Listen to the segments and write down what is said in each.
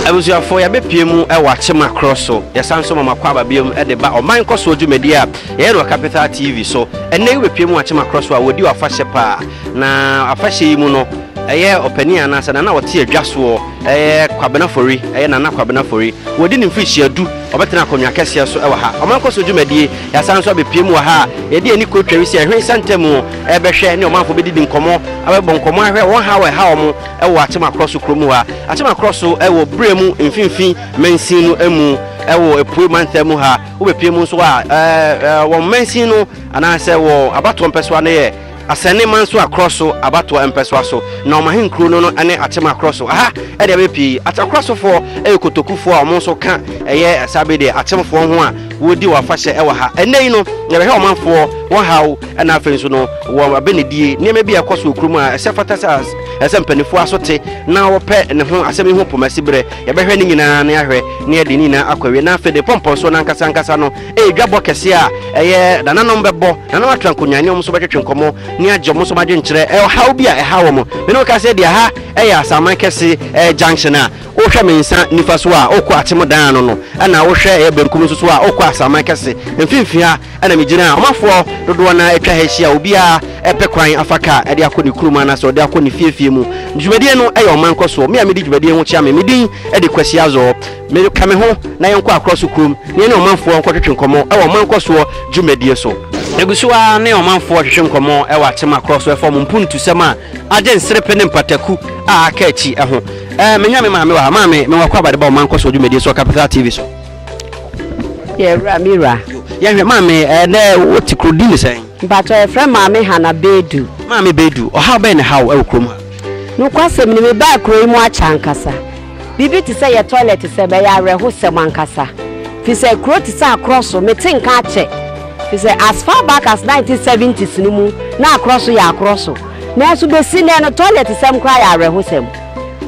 Abusuafoɔ, yɛabɛpue mu wɔ akyema korɔ so. Yɛsan nso ma mo akwaaba biom de ba ɔman nkɔsoɔ dwumadie a yɛyɛ no wɔ Capital TV so. Ɛnnɛ yi wobɛpue mu wɔ akyema korɔ so a wɔdi w'afahyɛ paa. Na afahyɛ yi mu no, ɛyɛ ɔpanin anaa sɛ nana a ɔte adwa soɔ, ɛyɛ Kwabena Fori, ɛyɛ Nana Kwabena Fori. Wɔdi ne mfirihyia du, ɔbɛtena akonnwa kɛseɛ so wɔ ha. Ɔman nkɔsoɔ dwumadie, yɛasan nso abɛpue mu wɔ ha a yɛde ani kɔ Twawisi Ɛhwee Santa mu ɛrebɛhwɛ ne ɔmanfoɔ bɛdidi nkɔmmɔ, abɛbɔ nkɔmmɔ ahwɛ wɔn haw a ɛha wɔn. wɔ Atema Krɔso kuro mu ha. Atema Krɔso wɔ Brɛ mu mfimfini mansin no mu wɔ Apuei mantam mu ha. Wobɛpie mu nso a, wɔn mansin no anaasɛ wɔ abatoɔ mpɛsoa no yɛ Asɛne Mansoa Krɔso abatoɔ mpɛsoa so, na wɔn ahenkuro no no ne Atema Krɔso. Aha deɛ bɛyɛ pii Atema Krɔsofoɔ yɛ Kotokufoɔ a wɔn nso ka ɛyɛ saa bɛ deɛ Atemofoɔ ho a wɔdi wɔn afahyɛ wɔ ha. Ɛnnɛ yi no, yɛbɛhwɛ ɔmanfoɔ wɔn haw na afei nso no wɔn abɛnidie nneɛma bi a ɛkɔ so wɔ kuro mu a ɛsɛ fata sɛ ɛsɛ sɛ mpanimfoɔ aso te na wɔpɛ ne ho asɛm yi ho pomasi berɛ yɛbɛhwɛ ne nyinaa na yɛahwɛ na yɛde ne nyinaa akɔ awie na afei de pɔmpɔnsoɔ no ankasa ankasa no ɛyɛ dwabɔ kɛseɛ a ɛyɛ nananom bɛbɔ nanom atra nkonnwa ne wɔn nso bɛtwetwe nkɔmmɔ ne agye wɔn nso adwenkyerɛ ɛhaw bi a ɛha wɔn mene woka sɛ deɛ ha ɛyɛ asaman kɛse ɛyɛ junction a Wohwɛ me nsa nifa so a, wokɔ atemmuda ano no, ɛnna wohwɛ ɛyɛ benkum nso so a, wokɔ asaman kɛse mfimfini ha na migyina a ɔmanfoɔ dodoɔ no ara atwa ha ahyia a obiara repɛ kwan afa kaa de akɔ ne kurom anaasɛ ɔde akɔ ne fiefie mu. Dwumadie no yɛ ɔman nkɔsoɔ. Me a medi dwumadie ho kyea me, me din de Kwasi Azor. Me, ka me ho na yɛnkɔ Akorɔ so kurom na yɛne ɔmanfoɔ nkɔtwetwe nkɔmmɔ wɔ ɔman nkɔsoɔ dwumadie so. Yɛgu so ara ne ɔmanfoɔ retwetwe nkɔmmɔ wɔ Atem Akorɔ so fam mpuntusɛm a agye nserepe ne mpataku a aka akyi ho. Eh, menya me maame wɔ ha. Maame, mewɔ kɔ abade ba wo mankɔ so wɔ dwumadie so Capital TV so. Yɛ wura me wura. Yɛhwɛ maame, eh, nɛ wote kuro di ne sɛn? Mpatɔ yɛfrɛ maame Hana Bedu. Maame Bedu, ɔhaw bɛn ne haw ɛwɔ kurom ha? Nokwasɛm ni mebaa kuro yi mu akyɛ ankasa. Biribi te sɛ yɛ toilet sɛ bɛyɛ awerɛhosɛm ankasa. Fi sɛ kuro te sɛ akorɔ so mete nka akyɛ. Fi sɛ as far back as 1970s no mu na akorɔ so yɛ akorɔ so. Nanso besi nnɛ no, tɔlɛtesɛm koraa yɛ awerɛhosɛm.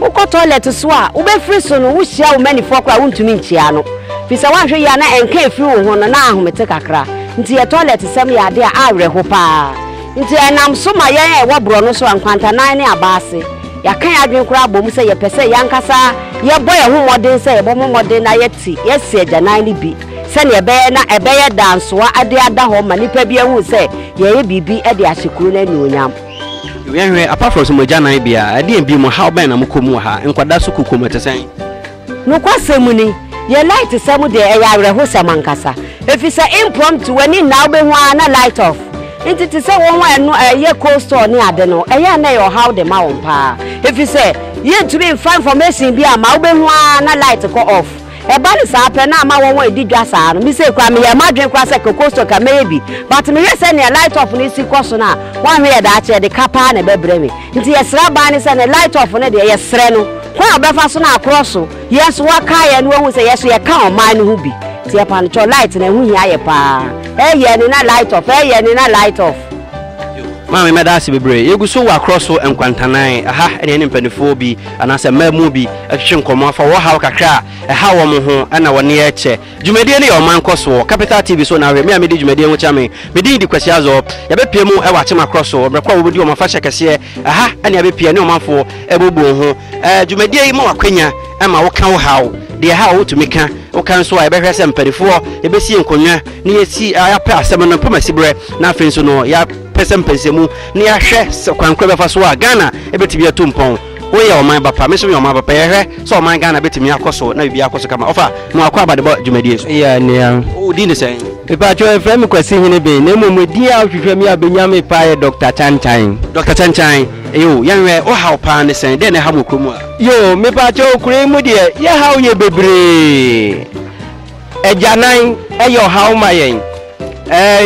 Wokɔ tɔlɛt so a, wubefiri so no, wuhyia wo mmanifo koraa a wuntumi nkyia ano, efisɛ woanhwɛ yiye a na ɛnka a efi wo ho no, na ahome te kakra. Enti yɛ tɔlɛtesɛm yɛ ade a awerɛhow paa. Enti ɛnam so ma yɛn a yɛwɔ borɔno so a nkwantanan ne aba ase, yɛaka yɛn adwene koraa abom sɛ yɛpɛ sɛ yɛn ankasa yɛbɔ yɛn ho mmɔden sɛ yɛbɛbɔ mmɔden na yɛte yɛn se agyanan no bi. Sɛnea ɛbɛyɛ na ɛbɛyɛ dansoa de ada hɔ ma nnipa bi ahu sɛ yɛyɛ biribi de ahyɛ kuro no anuonyam. Wɛnhwɛ, Apafros, mo agyananbea, ɛdeɛn bio, mo haw bɛn na mokɔ mu wɔ ha? Nkwadaa so kukom, ɛte sɛn? Nokwasɛm ni, yɛn lightsɛm deɛ, ɛyɛ awerɛhosɛm ankasa, efisɛ impromptu, w'ani nna a wobɛhu ara na light off. Enti te sɛ wɔn a ɛno ɛyɛ cold store ne ade no, ɛyɛ a na ɛyɛ ɔhaw de ma wɔn paa, efisɛ yɛntumi mfa information bi a ma wobɛhu ara na light kɔ off. Ɛba no saa pɛ na ama wɔn a edi dwa saa no. Me sei koraa meyɛɛ m'adwene koraa sɛ Cocosto ka mɛyɛ bi, but mehwɛ sɛ nea light off no si kɔ so no a, wɔanhwɛ yɛ daakye ɛde ka paa na ɛbɛbrɛ me. Nti yɛsrɛ aban no sɛ ne light off no deɛ yɛsrɛ no kwan a ɔbɛfa so na akorɔ so yɛn nso waka yɛn na wahu sɛ yɛn nso yɛka ɔman no ho bi. Nti ɛpanokyɛw light no ɛho hia yɛ paa. Ɛyɛ ne na light off, ɛyɛ ne na light off. Maame mɛda ase bebree. Yɛgu so wɔ akorɔ so nkwantanan, ɛha ɛne yɛne mpaninfoɔ bi. anaasɛ mmaamuu bi twetwe nkɔmmɔ afa wɔn haw kakra a ɛhaw wɔn ho na wɔne yɛkyɛ. Dwumadie no yɛ ɔman nkɔso wɔ Capital TV so na ahwɛ me a medi dwumadie ho kyɛ me. Me din de Kwasi Azor. Yɛbɛpia mu wɔ Akyemakorɔ so mmerɛ ko a wɔbɛdi wɔn afahyɛ kɛseɛ. Ɛha na yɛbɛpia ne ɔmanfoɔ ɛbɛbu wɔn ho. Dwumadie yi ma wo akwanya ma wo ka wo haw, deɛ ɛhaw wo tumi ka. Wo ka nso a yɛbɛhwɛ sɛ mpanifoɔ yɛbɛsi nkonnwa na yɛsi, yɛapɛ asɛm no, pɛ mo asiberɛ na afei nso no yɛ. pɛ sɛ mpɛnsɛmu na yɛahwɛ sɛ kwan koro bɛfa so a Ghana bɛtumi atu mpɔn. Woyɛ ɔman ba pa, me nso meyɛ ɔman ba pa, yɛhwɛ sɛ ɔman Ghana bɛtumi akɔ so na biribiara akɔ so kama. Ɔfa, na wakɔ aba de bɔ dwumadie so. Yea, nua. Wo din de sɛn? Mepaatwɔ, yɛfrɛ me Kwasi Hene Ben, na mmom edin a wohwehwɛ me a wobɛnya me paa yɛ Dɔkta Kyankyan. Dɔkta Kyankyan, eye o. Yɛnhwɛ, wo haw paa ne sɛn? Dɛn na ɛha mo wɔ kuro mu ha? Yoo, mepaatwɔ, kuro yi mu deɛ, yɛhaw yɛ bebree. Agyanan yɛ ɔhaw ma yɛn,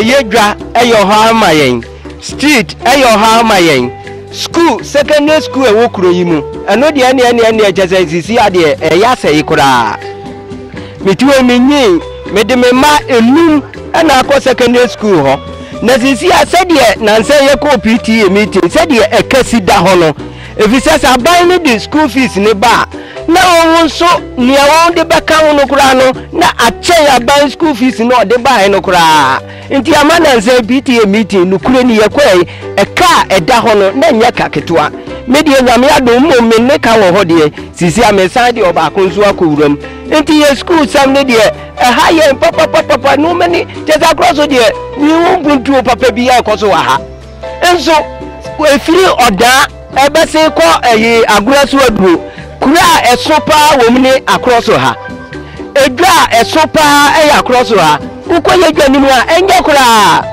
yɛ dwa yɛ ɔhaw ma yɛn, street yɛ ɔhaw ma yɛn, school secondary school ɛwɔ kuro yi mu ɛno deɛ ɛne ɛne ɛne ɛkyɛ sɛ sisi adeɛ ɛyɛ asɛe koraa meti wɔ mi nyi mede me mma enum ɛna akɔ secondary school hɔ na sisi a sɛdeɛ nansɛ yɛkɔ PTA meeting sɛdeɛ ɛkɛsi da hɔ no Efisɛ sɛ aban no de sukuu fees no ba a, na wɔn nso nea wɔde bɛka ho no koraa no, na akyɛn aban sukuu fees no a ɔde bae no koraa. Enti ama nnansa yi PTA meeting nokorɛ ni yɛkɔe yi, ɛka a ɛda hɔ no, na ɛnyɛ ka ketewa. Me deɛ Nyame adom mmom me ne ka wɔ hɔ deɛ, seesei a meresan de ɔbaako nso akɔ wuram. Enti yɛn sukuu sɛm no deɛ, ɛha yɛn papapapapa, nnoɔma ni, kyerɛ sɛ akorɔ so deɛ, menhu mpuntuo papa biara a ɛkɔ so wɔ ha. Nso ɛfiri ɔdaa ɛbɛsen kɔ ɛyi agorɔ so aduro. Kuro a ɛso paa wɔ mu ne akorɔ so ha. Edwa a ɛso paa ɛyɛ akorɔ so ha. Wokɔ yɛ dwa no mu a ɛnyɛ koraa.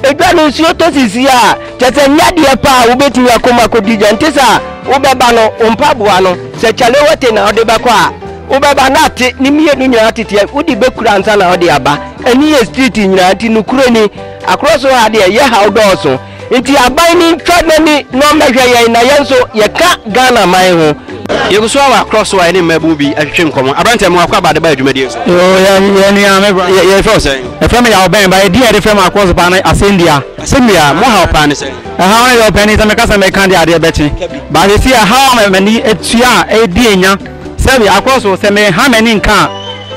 Edwa no nsuo tɔ sisi a kyɛ sɛ nyɛ adeɛ paa wobɛtumi akɔ mu akɔdi dwa. Nte saa wobɛba no wo mpaboa no sɛ kyalewote na wode bɛkɔ a wobɛba na ate ne mmienu nyinaa teteɛ wode bɛkura ansa na wode aba. Ɛne yɛ street nyinaa nti nokorɛ ni. Akoro so ha deɛ yɛhaw dɔɔso nti aban no ntwa nani na ɔmmɛhwɛ yɛn na yɛn nso yɛka Ghana man ho. Yɛgu so ara wɔ Akorɔ so a yɛne mmabun bi retwetwe nkɔmmɔ. Aberanteɛ, mewɔ akwaaba a de ba adwumadie so. Yoo, yɛ yɛn nua, me bra. Yɛ yɛfrɛ wo sɛn? Yɛfrɛ me Yaw Bɛn, but edin a yɛde frɛ me Akorɔ so paa ne Asɛndua. Asɛndua, mo haw paa ne sɛn? Ɛhaw no deɛ, ɔpanin, sɛ meka sɛ mɛka deɛ adeɛ bɛkye. But seesei ɛhaw a m'ani atua a ɛredi nya, sɛbi, Akorɔ so, sɛ meha m'ani nka a,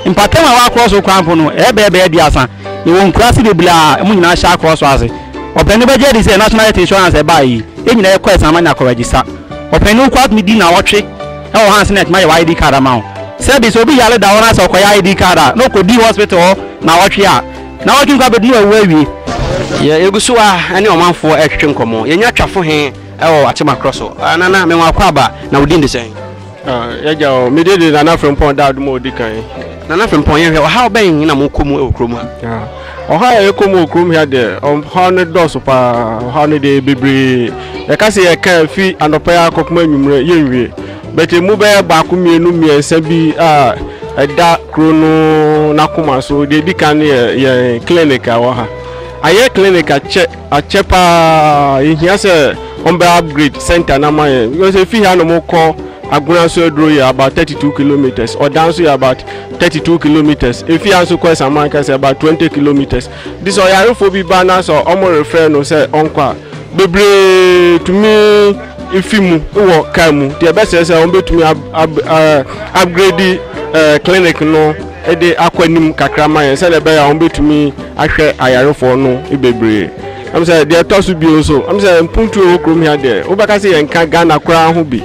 Mpɔtam a ɛwɔ akorɔso kwan po no yɛ bɛyɛ bɛyɛ aduasa. Yɛwɔ nkuraase bebree a emu nyinaa hyɛ akorɔso ase. Ɔpanin no bɛgye adi sɛ National Health Insurance a ɛbaeɛ yi, yɛn nyinaa yɛkɔ ɛsan ma nya kɔrɛgyesa. Ɔpanin no kura tumi di nnawɔtwe wɔ ha ansa na yɛatumi ayɛ wɔ ID card ama wo. Sɛ bi sɛ obi yare da hɔ na sɛ ɔkɔyɛ ID card a, na ɔkɔdi hospital hɔ nnawɔtwe a, nnawɔtwe nko abɛdu na wawu awie. Yɛ yɛgu so a ɛne ɔmanfoɔ ɛretwetwe nkɔmmɔ. Yɛnya twafo he wɔ Akyem akorɔso. Nana, menwakɔ aba, na wo din de sɛn? Yɛagya o, mede de Nana Frimpong da adom a ɔdi kan. Nana Frimpong, yɛhwɛ ɔhaw bɛn na mokɔ mu wɔ kurom ha? Ɔhaw a yɛkɔ mu wɔ kurom ha deɛ, ɔhaw no dɔɔso paa, ɔhaw no deɛ bebree. Yɛka sɛ yɛka a, fi anɔpa yi ara kɔpem anwummerɛ yɛnwie. But ɛmu bɛyɛ baako mmienu mmiɛnsa bi a ɛda kuro no n'akoma so. Deɛ ɛdi kan no yɛ yɛn clinic a ɛwɔ ha. Ayɛ clinic akyɛ akyɛ paa yɛhia sɛ ɔmbɛ upgrade center no ama yɛn because ɛfi ha no mokɔ agona so aduro yɛ about 32 kilometers ɔdan nso yɛ about 32 kilometers ɛfi ha nso kɔ asaman kɛsɛ about 20 kilometers de sɛ ɔyarefoɔ bi ba no sɛ ɔmo refrɛ no sɛ ɔnkɔ a bebree tumi efi mu wɔ kaa mu deɛ ɛbɛsɛ sɛ ɔmbɛtumi upgrade eh, clinic no de akɔ anim kakra ma yɛn sɛdeɛ ɛbɛyɛ a wɔbɛtumi ahwɛ ayarefoɔ no bebree ɛm sɛ deɛ ɛtɔ so bio nso ɛm sɛ mpuntuo wɔ kurom ha deɛ wobɛka sɛ yɛnka Ghana koraa ho bi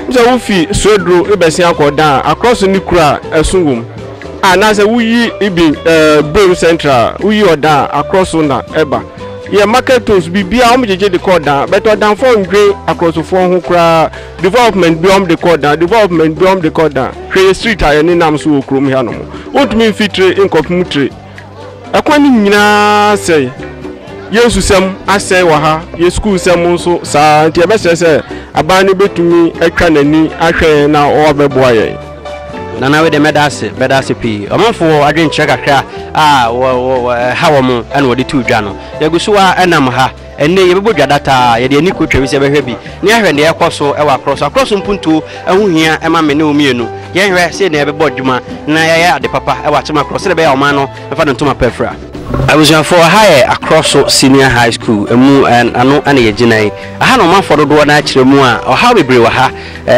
ɛm sɛ wofi suaduro bɛsen akɔ dan a akorɔ so ne kura a ɛso wom anaasɛ woyi ibi ɛɛ bom central woyi ɔdan a akorɔ so na ɛba yɛ market toast biribiara wɔn gyegye de kɔ ɔdan bɛtɛ ɔdanfoɔ ndwen akorɔsofoɔ ho koraa. Development bi a wɔde kɔ dan, development bi a wɔde kɔ dan. Hwɛ yɛ street a yɛnenam so wɔ kurom ha nom. Wontumi mfi tire nkɔpem tire. Ɛkwan no nyinaa sɛe. Yɛn nsusɛm asɛe wɔ ha, yɛn sukuu nsɛm nso saa ara. Nti yɛbɛsrɛ sɛ aban no bɛtumi atwa n'ani ahwɛ yɛn na wɔabɛboa yɛn. Nana wei deɛ mɛda ase bɛda ase pii ɔmanfo wɔ adwenkyerɛ kakra a wɔ wɔ ɛha wɔn ɛna wɔde tu dwa no yɛgu so a ɛnam ha Ɛnnɛ yi, yɛbɛbɔ dwa dataa, yɛde ani kotwa wi sɛ yɛbɛhwɛ bi, na yɛahwɛ nea ɛrekɔ so wɔ akorɔ so. Akorɔ so mpuntuo ho hia ma me ne wo mmienu. Yɛnhwɛ sɛnea yɛbɛbɔ adwuma na yɛayɛ ade papa wɔ akyem akorɔ sɛnea ɛbɛyɛ a ɔman no bɛfa ne ntoma pa afira. Abusuafoɔ, ɛha yɛ Akorɔ so Senior High School, ɛmu ano na yɛgyina yi. Ɛha na ɔmanfoɔ dodoɔ no ara kyerɛ mu a ɔhaw bebree wɔ ha.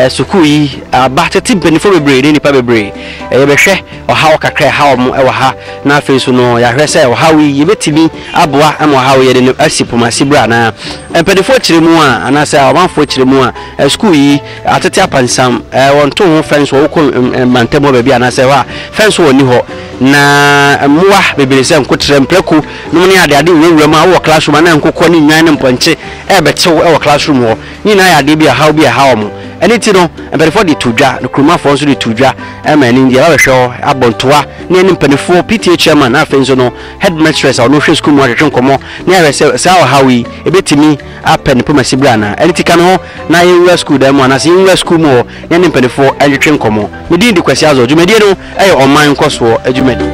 Sukuu yi aba tete mpanimfoɔ bebree ne nnipa bebree. Yɛbɛhwɛ. ɔhaw kakra a ɛhaw mo wɔ ha, na afei nso no yɛahwɛ sɛ ɔhaw yi yɛbɛtumi aboa ma ɔhaw yɛde no asi poma ase berɛ anaa mpaninfoɔ kyerɛ mu a anaasɛ amanfoɔ kyerɛ mu a sukuu yi atete apansam wɔnto ho fɛn so wokɔ mantam hɔ baabi anaasɛ hɔ a fɛn so wɔnni hɔ na mmoa bebree sɛ nkoterɛ mprako nom ne ade ade nwurawura mu a wowɔ classroom anaa nkokɔ ne nnwan ne mpɔnkye ɛrebɛtew wɔ classroom hɔ ne nyinaa yɛ adeɛ bi a ɔhaw bi a ɛhaw mo ɛno ti no mpaninfoɔ de to dwa na kuromafoɔ nso de to dwa Ɛma ɛno nti yɛbɛhwehwɛ hɔ abɔ ntoa ne yɛne mpanimfoɔ, PTA chairman na afei nso no headmistress a ɔno hwɛ sukuu mu atwetwe nkɔmmɔ na yɛahwɛ sɛ saa ɔhaw yi ɛbɛtumi apɛ ne poma siberɛ anaa. Ɛno nti ka me ho na yɛnwura sukuu dan mu anaasɛ yɛnwura sukuu mu hɔ na yɛne mpanimfoɔ ntwetwe nkɔmmɔ. Me din de Kwasi Azor. Dwumadie no yɛ ɔman nkɔsoɔ dwumadie.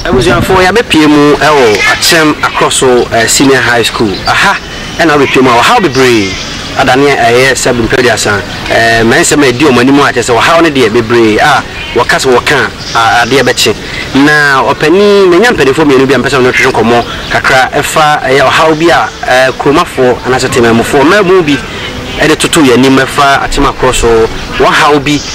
Abusuafoɔ, yɛabɛpue mu wɔ Akyem Akrɔso Senior High School. Aha. Ɛnna wo betwam a ɔhaw bebree ada nea ɛyɛ sɛ bere mpɛn aduasa. Mmɛnsɛm a edi wɔn anim a kyerɛ sɛ ɔhaw no deɛ bebree a wɔka sɛ wɔka a adeɛ bɛkye. Na ɔpanin, manya mpanimfoɔ mmienu bi a mepɛ sɛ me ne wo twetwe nkɔmmɔ kakra fa ɛyɛ ɔhaw bi a kuromafoɔ anaasɛ temanmufoɔ mmaabun bi de toto yɛn anim fa atemakorɔ so wɔhaw bi.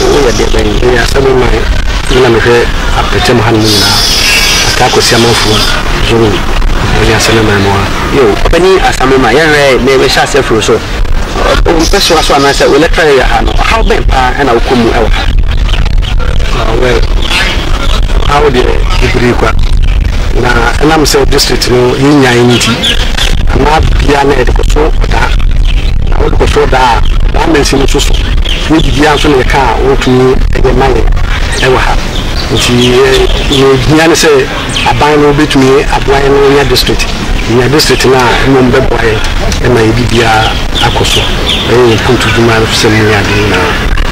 Woyɛ deɛ bɛn? Meyɛ Asabu man mu na mehwɛ apɛtɛm hanom nyinaa, Ataa Kwasi Amanfoɔ Zone mu. Mene Asame man mu a. Yo, Ɔpanin Asame man, yɛwerɛɛ yɛn, na yɛbɛhyɛ aseɛ afiri wo so. Wo mpɛsoa so anaasɛ wo electoral area ha no, ɔhaw bɛn pa ara na wokɔ mu wɔ ha? Ah, well, ɔhaw deɛ bebree kwa, na ɛnam sɛ district no yɛnnyae no nti, ɛma bia na yɛde kɔso ɔdaa, na wode kɔso ɔdaa a, ɔdaa mansin no nso so. Ne biribiara nso na yɛka a wɔntumi nyɛ mma yɛn wɔ ha. Nti yɛn nea ehia ne sɛ aban no betumi aboa yɛn ma yɛanya district. Yɛnya district no a, mmom bɛboa yɛn ma yɛn biribiara akɔ so, bɛyɛ yɛn mpontu dwuma fam ne ade nyinaa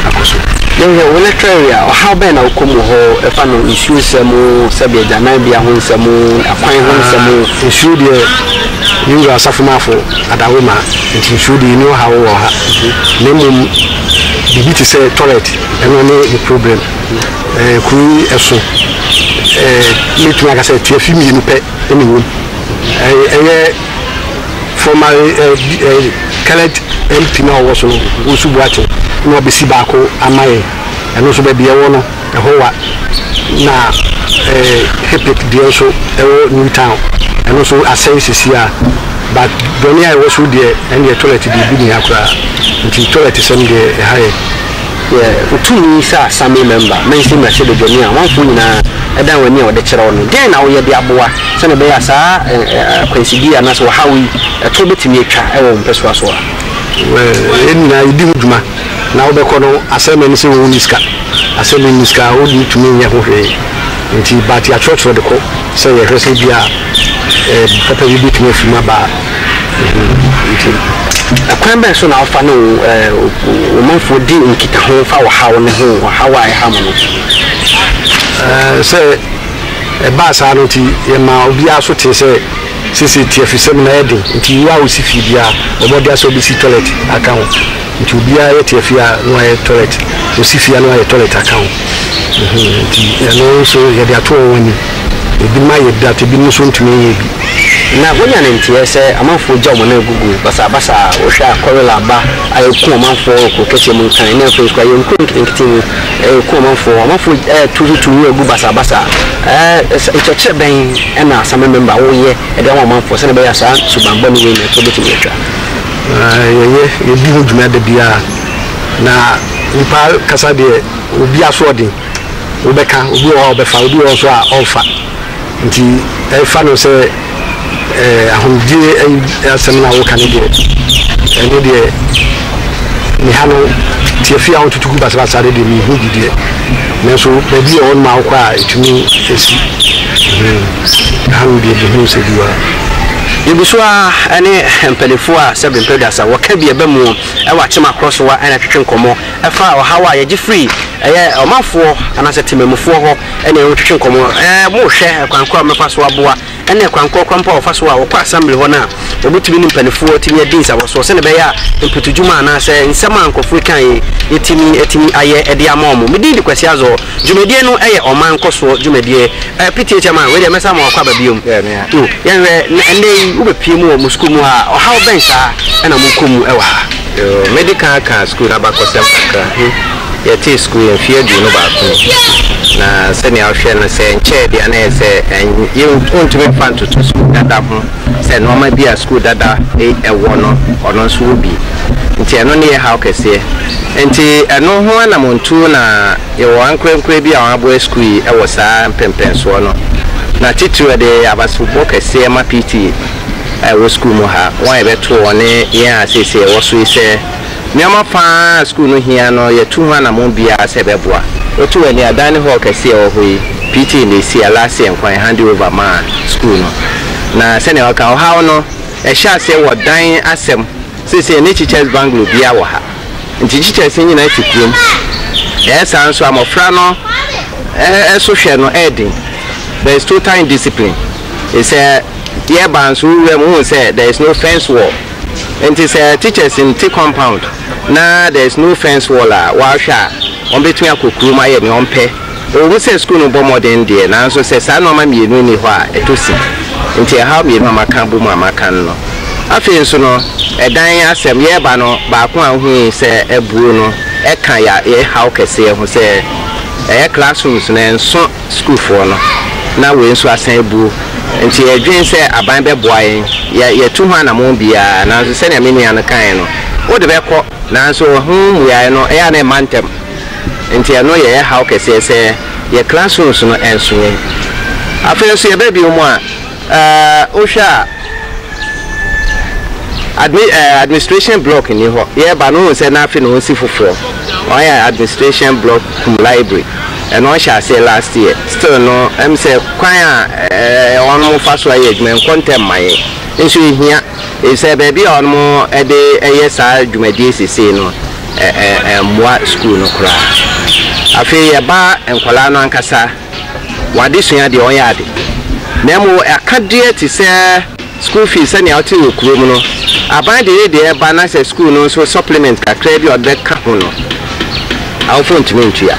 akɔ so. Yɛhwɛ wo lecture area a, ɔhaw bɛn na wokɔ mu wɔ hɔ? Ɛfa no nsuo nsɛm, sɛdeɛ agyananbea ho nsɛm, akwan ho nsɛm. Nsuo deɛ. Me Wura Asafomafo Adawoma, nti nsuo deɛ ɛnni ɔhaw wɔ ha, na mmom biribi te sɛ toilet, ɛno ne me problem. Ɛɛ, kuro yi ɛso, ɛɛ, mɛtumi aka sɛ tiafi mmienu pɛ na ɛwɔ mu. Ɛɛ, ɛyɛ former ɛɛ, ɛɛ, current MP no a ɔwɔ so no, Owusu Boateng, na wabɛsi baako ama yɛn. Ɛno nso baabi a ɛwɔ no, Ɛhowa na Hepik deɛ nso ɛwɔ New Town ɛno nso asɛe sesie a but bɔne a ɛwɔ so deɛ ɛndeɛ toilet deɛ ebi nniha koraa nti toilet sɛm deɛ ɛha yɛn. Yeah wotumi sɛ assembly member mɛnse mmrahyɛ badwani a amanfoɔ nyinaa ɛdan wani a wɔde kyerɛ wo no deɛn na woyɛ de aboa sɛdeɛ ɛbɛyɛ a saa akwansideɛ anaasɛ ɔhaw yi ɛtoɔ bɛtumi atwa ɛwɔ wo mpɛsoa so a. Well yɛn nyinaa yɛdi ho dwuma na wobɛkɔ no asɛmɛ ne sɛ wo wonni sika asɛ me nni sika a wo deɛ tumi nyɛ ho hwee nti but yɛatwerɛtwerɛ de kɔ sɛ yɛhwɛ sɛ bia papa bi bɛtumi afiri mu aba nti ɛkwan bɛn so na wofa ne wo wo manfoɔ di nkitaho fa ɔhaw no ho ɔhaw a ɛha mo no sɛ ɛbaa saa no nti yɛma obiara so tee sɛ sese tiafisɛm na ɛden nti wo a wosi fie biara wɔbɔde asɛ wobɛsi toilet aka ho Nti obiaa yɛ te afia no ayɛ toilet osi fia no ayɛ toilet aka ho nti ɛno nso yɛde ato wɔn anim ebinom ayɛ bi but ebinom nso ntumi nyɛ bi. Na wanya ne nteɛ sɛ amanfoɔ gya wɔn nan agugu basaa basaa a wohwɛ a kɔrel aba a ɛku amanfoɔ wɔ kuro kɛseɛ mu nkan ne afei nso koraa yɛn nkuro nketenkete mu ɛku amanfoɔ amanfoɔ ɛtu so tu nwura gu basaa basaa ɛɛ nkyerɛkyerɛ bɛn ɛna assembly member woyɛ ɛde ama amanfoɔ sɛdeɛ ɛbɛyɛ a saa suban bɔne wei no ɛto bɛtumi atwa. Yɛyɛ, yɛdi ho dwuma da biara. Na nnipa kasa deɛ, obi asoɔden, wobɛka, obi wɔ hɔ a ɔbɛfa, obi wɔ hɔ nso a ɔmfa. Nti fa no sɛ ahomegyeɛ asɛm no a woka no deɛ, ɛno deɛ me ha no, tiafi a wototo gu basabasa no deɛ, menhu bi deɛ. Nanso baabi wɔ hɔnom a wokɔ a ɛtumi si. Aha no deɛ mehunu sɛ bi wɔ ha. Yɛguso ara ne mpaninfoɔ a sɛbe mpɛduasa wɔka bi ɛba muo wɔ akyem akorɔ so a na twetwe nkɔmɔ ɛfa ɔhaw a yɛgye firi ɛyɛ ɔmanfoɔ anaasɛ temamufoɔ hɔ ɛne wɔn twetwe nkɔmɔ ɛɛ mo hwɛ ɛkwan korɔ a wɔbɛfa so aboa ɛne ɛkwan korɔ koraa mpo a wɔfa so a wɔkɔ assembly hɔ no a wɔbɛtumi ne mpaninfoɔ atumi adi nsabɔsoɔ sɛdeɛ ɛbɛyɛ a mpotudwuma anaasɛ nsɛm a nkorɔfoɔ ɛka yi yɛtumi atumi ayɛ ɛde ama wɔn me din de Kwasi Azor Dwumadie no yɛ ɔman nkɔsoɔ dwumadie. Eh, Pitie Chairman, wei deɛ mɛsan ama wo akwaba biom. Oh, yɛnhwɛ na ɛnnɛ yi wobɛpie mu wɔ mo sukuu mu ha a, ɔhaw bɛn saa na mokɔ mu wɔ ha? Yoo, mɛdi kan aka sukuu no abakɔsɛm kakra. Yɛtee sukuu yi mfeɛ aduonu baako ni, na sɛdeɛ wohwɛ no, sɛ ɛnkyɛɛ deɛ a na ɛyɛ sɛ yɛn, wɔntumi mfa ntoto sukuu dada ho. sɛ nnoɔma bi a sukuu dada yi wɔ no, ɔno nso wɔ bi. Nti ɛno ne yɛ haw kɛseɛ. Nti ɛno ho anamontuo na yɛwɔ ankorɛnkorɛ bi a wɔn aboa sukuu yi wɔ saa mpɛnpɛnsoɔ no. Na titiriw ɛde abasebɔ kɛseɛ ma PTA a ɛwɔ sukuu mu ha, wɔn a yɛbɛtoo wɔn ne yɛn a seesei yɛwɔ so yi sɛ Nneɛma pa ara a sukuu no hia no, yɛatu ho anammɔn biara sɛ ɛbɛboa. Wotu w'ani a, dan ne hɔɔl kɛse a ɛwɔ hɔ yi, PTA na esii, Alaase yɛ nkwa, yɛhande over maa sukuu no. Na sɛnea wɔka, ɔhaw no, ɛhyɛ aseɛ wɔ dan asɛm. Seesei yɛn akyi kyɛs bungalow biara wɔ ha. Nti akyi kyɛs no nyinaa te kurom. Ɛyɛ saa nso a, mmɔfra no so hwɛ no yɛ den. There is total indiscipline. Sɛ yɛreba nso, wo wuram, wohu sɛ there is no fence wall. Nti sɛ teachers nte compound na there is no fence wall a, wɔahwɛ a, wɔbɛtumi akɔ kurom ayɛ nea wɔpɛ. Ɛwɔ mu sɛ sukuu no bɔ mmɔden deɛ, nanso sɛ saa nnoɔma mmienu nni hɔ a, ɛtɔ sin. Nti ɛhaw mmienu a maka abɔ mu a maka no no. Afei nso no, ɛdan asɛm, yɛreba no, baako a wohui sɛ abuo no, ɛka yɛn haw kɛseɛ ho sɛ ɛyɛ classrooms no ɛnso. sukuufoɔ no, na wei nso asan abuo. Enti yɛdwene sɛ aban bɛboa yɛn. Yɛ, yɛatu ho anammɔn biara, nanso sɛnea me nua no kaeɛ no, wode bɛkɔ, nanso ɛho mmuaeɛ no, ɛyɛ a na ɛmma ntɛm. Enti ɛno yɛ yɛn haw kɛseɛ sɛ yɛn classrooms no nso yɛn. Afei nso yɛba bio mu a, Wohwɛ a admi ɛɛ administration block nni hɔ. Yɛreba no wohu sɛ na afei na wɔsi foforɔ. Wɔayɛ administration block kum library. Ɛno wɔhyɛɛ aseɛ last year. Still no ɛm sɛ kwan a ɛɛ wɔn fa so yɛ adwuma ɛnkɔ ntɛm ma yɛn. Nso ɛhia efisɛ baabi a wɔn de yɛ saa dwumadie sesei no ɛ ɛ ɛmmoa sukuu no koraa. Afei yɛba nkwadaa no ankasa. w'adesua deɛ ɔnyɛ ade na mmom akadeɛ te sɛ school fees sɛnea wote wɔ kurom no aban de ne deɛ ɛba na sɛ school no nso supplement kakraa bi a ɔde bɛka ho no awofo ntumi ntua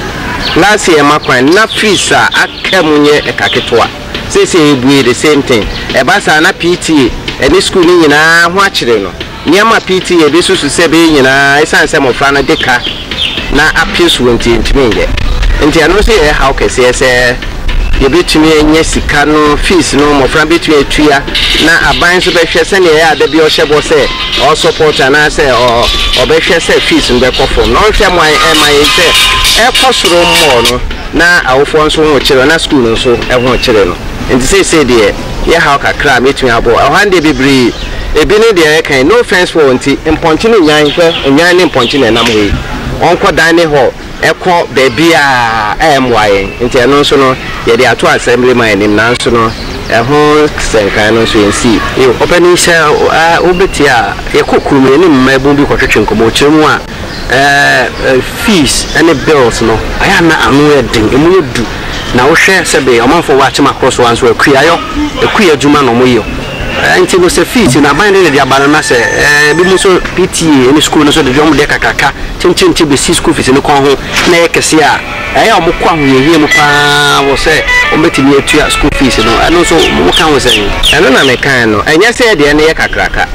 last year ma kwan na fees a aka mu nyɛ ɛka ketewa seesei ebue the same thing ɛba saa na PTA ɛne school no nyinaa ho akyere no Nneɛma pii te yɛn de susu sɛ ɛbɛyɛ nyinaa esiane sɛ mmofra no de ka na apere so nti yentumi nyɛ. Enti ɛno nso yɛ haw kɛseɛ sɛ yɛbɛtumi anya sika no, fees no mmofra no bɛtumi atua na aban nso bɛhwɛ sɛnea ɛyɛ a da biara ɔhyɛ bɔ sɛ ɔɔ support anaasɛ ɔbɛhwɛ sɛ fees no bɛkɔ fam na ɔnhwɛ mmoa ɛmma yɛn sɛ ɛkɔ soro mmɔɔ no na awofoɔ nso ho kyere na school no nso ho kyere no. Enti seesei deɛ. yɛ haw kakra a mɛtumi abɔ ɛhɔ ara no deɛ bebree ebi ne deɛ yɛka yi no offense for nti mpɔnkye ne nnwan hwɛ nnwan ne mpɔnkye na ɛnam hɔ yi ɔnkɔ dan ne hɔ ɛkɔ baabiaa a ɛmmoa yɛn nti ɛno nso no yɛde ato assembly man anim nanso no ɛho sɛnkan no nso yɛnsii. Ɔpanin sɛ wobɛtie a yɛkɔ kurom yɛne mmaabun bi kɔtwetwe nkɔmmɔ ɔkyerɛ mu a. ɛɛ fees ɛne bills no ayɛ a na ano yɛ den ɛmu yɛ du na wohwɛ sɛbe ɔmanfoɔ wɔ akyem akoro so a nso akuayɔ akuayɔ adwuma na wɔyɔ ɛɛ nti no sɛ fees no aban de na ɛde aba no na sɛ ɛɛ ebi mo nso PTA ɛne sukuu no nso de wɔn deɛ kakraka kyenkyen te bɛsi sukuu fees no kɔn ho na ɛyɛ kɛseɛ a. Ɛyɛ a wɔkɔ ahohiahia mu pa ara wɔ sɛ wɔbɛtumi atua sukuu fees no, ɛno nso woka ho sɛn? Ɛno na mekae no, ɛnyɛ sɛ deɛ no yɛ kakraka.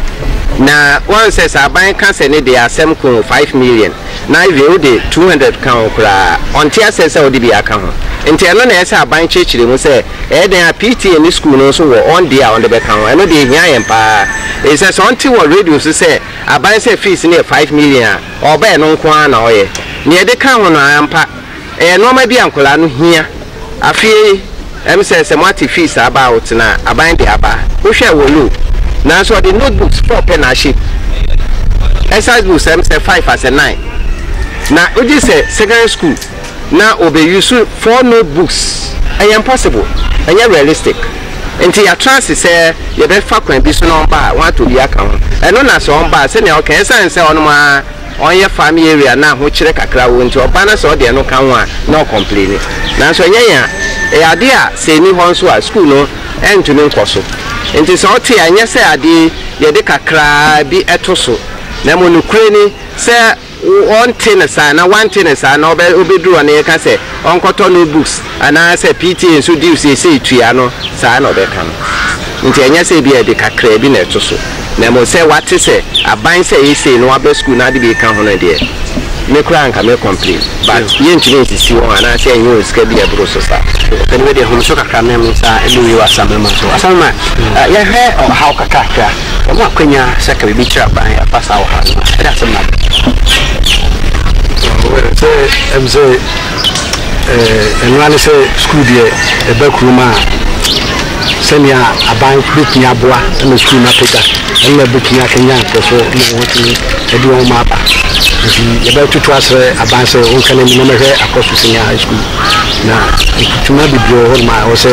Na woahu sɛ sɛ aban ka sɛ ne deɛ asɛm ko five million, na Ivy wode two hundred ka ho koraa a, ɔnte aseɛ sɛ wode bi aka ho. Nti ɛno na ɛyɛ sɛ aban kyerɛkyerɛ mu sɛ ɛyɛ dɛn a PTA ne sukuu no nso wɔ wɔn deɛ a wɔde bɛka ho. Ɛno deɛ ɛhia yɛn pa ara, ɛfiri sɛ sɛ wɔte wɔ radio so sɛ aban sɛ fees no yɛ five million a, Ɔbɛn no nko ara na ɔyɛ. Nea ɛde ka ho no, ampa, ɛyɛ nnoɔma bi a nkwadaa no hia. Afei, ɛm sɛ, sɛ moate fees aba a, ɔtena aban de aba. Wohwɛɛ wɔ low. Nanso ɔde note books four pɛ na ahyɛ mu. Exercise books, ɛm sɛ, five asɛ nine. Na wogye sɛ secondary school. na ɔbɛ use four note books ɛyɛ impossible ɛnyɛ realistic nti yɛatra ase sɛ yɛbɛ fa kwan bi so na ɔmba a wɔn atɔ bi aka ho ɛno na sɛ ɔmba a sɛnea ɔka ɛsan sɛ ɔnom a ɔnyɛ farm area na ahokyerɛ kakra wɔ nti ɔba na sɛ ɔde ɛno ka ho a na ɔcomplaini nanso ɛnyɛ yɛn a ɛyɛ adeɛ a sɛ ɛni hɔ nso a school no ɛntumi nkɔ so nti sɛ ɔte a ɛnyɛ sɛ adeɛ yɛde kakra bi ɛto so na mmɔ nokorɛ ni sɛ wɔnte no saa anaa wɔante no saa na ɔbɛduru hɔ na yɛka sɛ ɔnkɔtɔ note books anaa sɛ PTA nso due seesei tua no saa na ɔbɛka no nti ɛnyɛ sɛ ebia ɛde kakraa bi na ɛto so na mmom sɛ wate sɛ aban sɛ ɛyɛ sei na waba sukuu na ade bi reka ho no deɛ me koraa anka mɛ complain but yɛntumi nsisi wɔn anaa sɛ ɛnyɛ wɔn sika bi a ɛboro so saa. Ɛnde wei deɛ home so kakra mem nsa ɛde wei wɔ Asamama so Asamama yɛhwɛ ɔhaw kakrakra. Wɔn a wɔanya sakre bi tra ban afa saa ɔhaw no a ɛda ase ma bɛ. Well sɛ ɛm sɛ eh, ɛno ara ne sɛ sukuu deɛ ɛba kurom a sɛnea aban bɛtumi aboa ma sukuu no apagya ɛno na ɛbɛtumi akanyan nkurɔfoɔ ma wɔatumi ɛde wɔn ma aba nti yɛbɛtoto asrɛ aban sɛ wɔnka n'anim na mɛhwɛ akɔ so senior high school na mfutuma bebree wɔ hɔ nom a ɛwɔ sɛ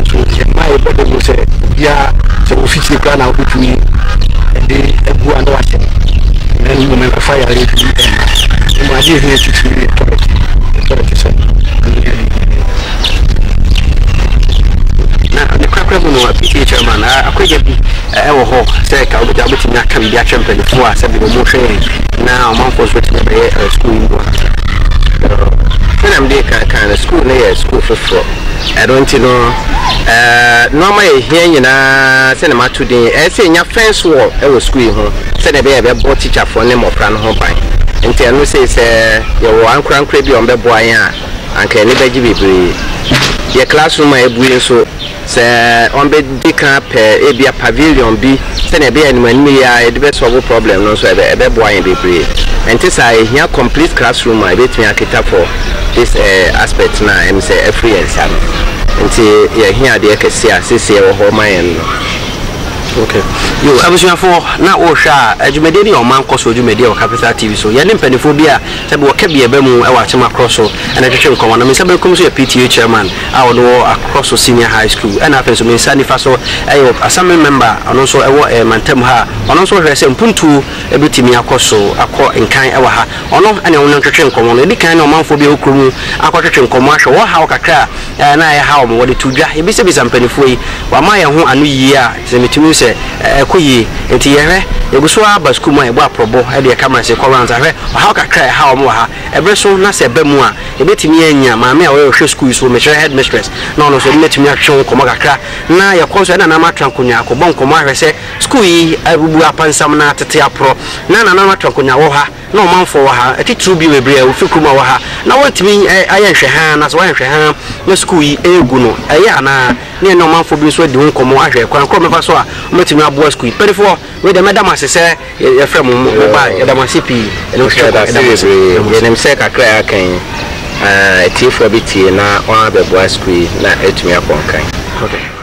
nso yɛn mmaeɛ bɔ dawuro sɛ obiara sɛ wo fitiri koraa na wobɛtumi de agu a na wahyɛ na ne mmom ɛmfa yareɛ bi mma mmom adeɛ ɛhia titiri yɛ tɔlɛt tɔlɛt sɛ na ne korakora mu no ph ama na akwagya bi ɛwɔ hɔ sɛ ka wobɛgya wobɛtumi aka biribi akyerɛ mpanimfoɔ a sɛbi wɔn hwɛ yɛn na ɔmanfoɔ nso tumi bɛyɛ sukuu yi mu a sɛdeɛ mede kan kan no sukuu no yɛ sukuu foforɔ Ɛno nti no, nnoɔma a ɛhia nyinaa sɛdeɛ mato din yi, ɛyɛ sɛ yɛnya fence wall wɔ sukuu yi ho sɛdeɛ ɛbɛyɛ a ɛbɛbɔ tikyafoɔ ne mmɔfra no ho ban. Nti ɛno sei sɛ yɛwɔ ankorankorɛ bi a wɔbɛboa yɛn a, anka yɛn ani bɛgye bebree. Yɛn classroom a abue nso, sɛ wɔbɛdi kan apɛ ebia pavilion bi, sɛnea ɛbɛyɛ a animanim yi ara yɛde bɛ solve problem no nso ɛbɛ ɛbɛboa yɛn bebree. Ɛnte saa a, ehia complete classroom a ebetumi aketa for this eh aspect no a ɛm sɛ afiri yɛn nsa no. Nti yɛhia adeɛ kɛseɛ a seesei ɛwɔ hɔ ma yɛn no. Okay. Yo, abusuafoɔ, na wohwɛ a, eh dwumadie no yɛ ɔman nkɔsoɔ dwumadie wɔ Capital TV so. Yɛne mpaninfoɔ bi a sɛbi wɔka bi ɛbɛ mu ɛwɔ Akyem Akorɔ so ɛna ɛtwetwe nkɔmmɔ. Na me nsa benkum so yɛ PTA Chairman. a ɔno wɔ Akrɔso Senior High School ɛna afei nso me nsa nifa so ɛyɛ wɔ Assembly Member a ɔno nso ɛwɔ ɛɛ Mantam ha a ɔno nso hwɛ sɛ mpuntuo ɛbɛtumi akɔ so akɔ nkan ɛwɔ ha. Ɔno ɛne wɔn ntwetwe nkɔmmɔ no. Yɛdi kan ne ɔmanfoɔ bi a ɛwɔ kuro mu akɔtwetwe nkɔmmɔ ahwɛ wɔn haw kakra a ɛɛ na ɛha wɔn. Wɔde too dwa. Yɛbisabisa mpaninfoɔ yi. Wɔama yɛn ho ano yie a sɛ metumi hu sɛ ɛɛkɔ yie. Nti yɛhwɛ, yɛgu so ara ba sukuu mu a yɛbɔ aprɔbɔ ɛde yɛn cameras rekɔ rounds ahwɛ ɔhaw kakra a ɛha wɔn wɔ ha. Ɛbere so na sɛ ɛba mu a. Yɛbɛtumi anya maame a ɔyɛ ɔhwɛ sukuu yi so, mekyerɛ headmistress, na ɔno nso yɛne no atumi atwetwe ho nkɔmmɔ kakra, na yɛkɔ nso a yɛne nananom atra nkonnwa akɔbɔ nkɔmmɔ ahwɛ sɛ sukuu yi abubu apansam na atete aporɔ, na nananom atra nkonnwa wɔ ha, na ɔmanfoɔ wɔ ha, titiriw bio bebree a wɔfiri kurom a wɔwɔ ha, na wɔntumi ayɛ nhwɛhaa, na sɛ wɔayɛ nhwɛhaa na sukuu yi regu no, ɛyɛ anaa? na yɛne ɔmanfoɔ bi nso adi ho nkɔmmɔ ahwɛ kwan korɔ a wɔbɛfa so a wɔbɛtumi aboa sukuu yi mpanimfoɔ. Wei deɛ mɛda mo ase sɛ yɛfrɛ mo mo baa yɛda mo ase pii ɛnam sɛ yɛda ase bebree yɛnim sɛ kakra a aka yi atiefoɔ bi tie na wɔn abɛboa sukuu yi na atumi akɔ nkan. Ok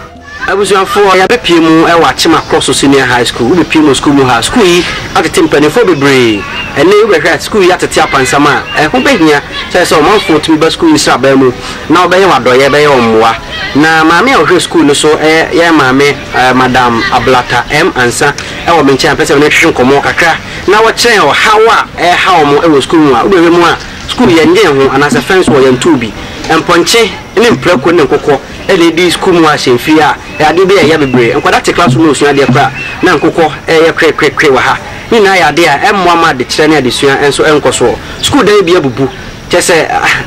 abusuafoɔ yɛabɛ pie mu wɔ Akyema Cross Senior High School wobɛ pie mu wɔ sukuu mu ha sukuu yi atete mpanifoɔ bebree ɛnɛ yi wobɛhwɛ a sukuu yi atete apansam a ɛho bɛhia sɛ sɛ ɔmanfoɔ tumi ba sukuu yi sraban mu na wɔbɛyɛ wɔn adɔyɛ bɛyɛ wɔn mmoa na maame a ɔhwɛ sukuu no so yɛ maame Ɛɛ Madam Ablata M. Ansah wɔ me nkyɛn a mepɛ sɛ me ne no twetwe nkɔmmɔ kakra na ɔkyerɛ yɛn ɔhaw a ɛrehaw wɔn wɔ sukuu mu a wobɛhwɛ mu a sukuu no yɛnyee ho anaasɛ fɛn so hɔ yɛntoo bi. Mpɔnkye ne mprako ne nkokɔ na edi sukuu mu ahyɛmfiri a adeɛ bi reyɛ bebree. Nkwadaa te classroom na wɔresua adeɛ koraa na nkokɔ reyɛ krekrekre wɔ ha. Ne nyinaa yɛ adeɛ a ɛmmoa mma adekyerɛ ne adesua nso nkɔ soɔ. Sukuu dan bi abubu. Kyerɛ sɛ,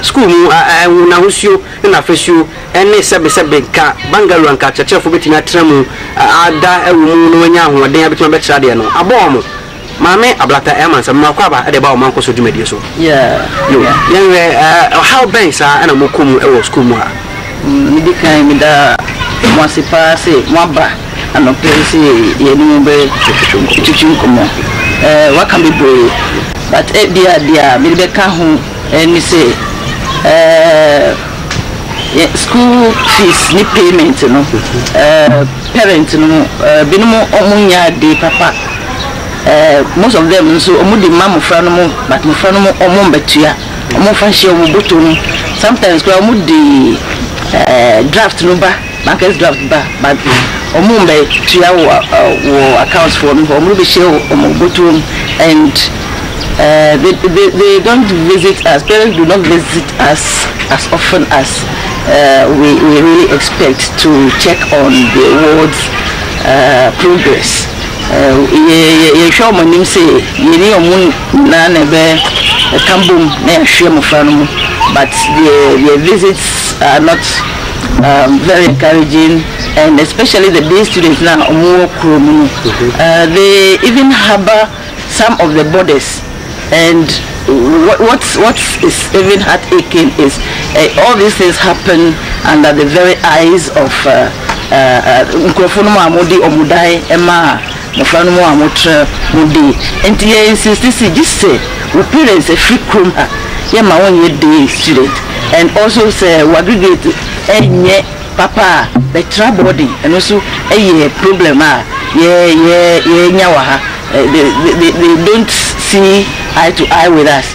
sukuu mu ngo n'ahosuo ne n'afasuo ne sɛbesɛbe nka Bangalore anka akyerɛkyerɛfoɔ bɛtumi atena mu ada wɔ mu na wɔanya ahoɔden a bɛtumi abɛkyerɛ adeɛ no abɔ wɔn. Maame Ablata ɛyɛ amansa mema wakɔ aba de reba wɔn mankɔso dwumadie so. Yo, yɛnhwɛ ɔhaw bɛn saa na mokɔ mu wɔ sukuu mu ha? Medi kan meda mo ase paa sɛ moaba. Anɔpa yi nso yɛne mo bɛtwetwe nkɔmmɔ. Waka bebree but ebia deɛ a mede bɛka ho ne sɛ yɛn school fees ne payment no parent no binom wɔn nyɛ ade papa most of them nso wɔn de ma mmɔfra no mo but mmɔfra no mo wɔn mbɛtua wɔn mfa nhyɛ wɔn bɔtɔ mu sometimes koraa wɔn de draft no ba. Bankers draft ba but ɔmo mbɛ tua wo wɔ account foɔ no hɔ ɔmo bɛ hyɛ wo ɔmo bɔtɔ mu and they they they don't visit us parents do not visit us as often as we we really expect to check on the ward's progress yɛ yɛ yɛ hwɛ ɔmo anim sɛ yɛ ni ɔmo nyinaa na ɛbɛ ɛka bom na yɛ ahwɛ mmɔfra no mu but their their visits are not. um very encouraging and especially the day students na ɔmo wɔ kuro mu no uh, they even harbour some of the borders and what what, what is even heartaching is uh, all these things happen under the very eyes of uh, uh, uh, nkurɔfoɔ no mu a wɔde wɔn dan ma Mmofra no mu a motra mu days nti yɛ insisti se gye sɛ wo parents afiri kurom ha yɛ ma wo nyɛ day student and also sɛ wo aggregate ɛnyɛ papa a bɛ tra boarding ɛno nso ɛyɛ problem a yɛ yɛ yɛ nya wɔ ha they they they don't see eye to eye with us.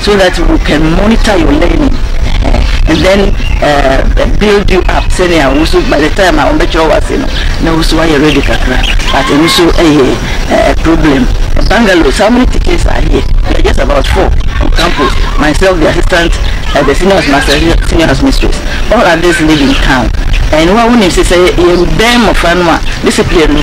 so that we can monitor your learning and then uh, build you up sɛnea wo nso by the time a wɔbɛkyerɛ wo ase no na wo nso woayɛ ready kakra but ɛno nso ɛyɛ uh, problem bangalore so how many tickets are here we are just about four on campus myself the assistant uh, the senior master senior house mistress all others live in town and wa wonim sɛ sɛ yɛbɛn mmɔfra no a discipline no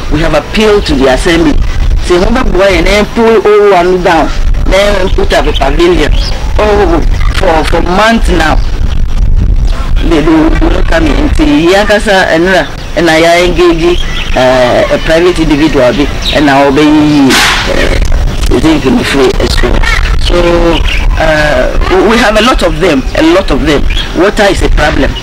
We have appealed to the Assembly sɛ hom bɛboa yɛn na yɛmpew Owowa no down na yɛn put up a pavilion oh for for months now they they wouldn't come in nti yɛn ankasa nnora na yɛ engage eh, a private individual bi na ɔbɛyiyi eh, zinc no firi sukuu hɔ. So uh, we have a lot of them, a lot of them. Water is a problem.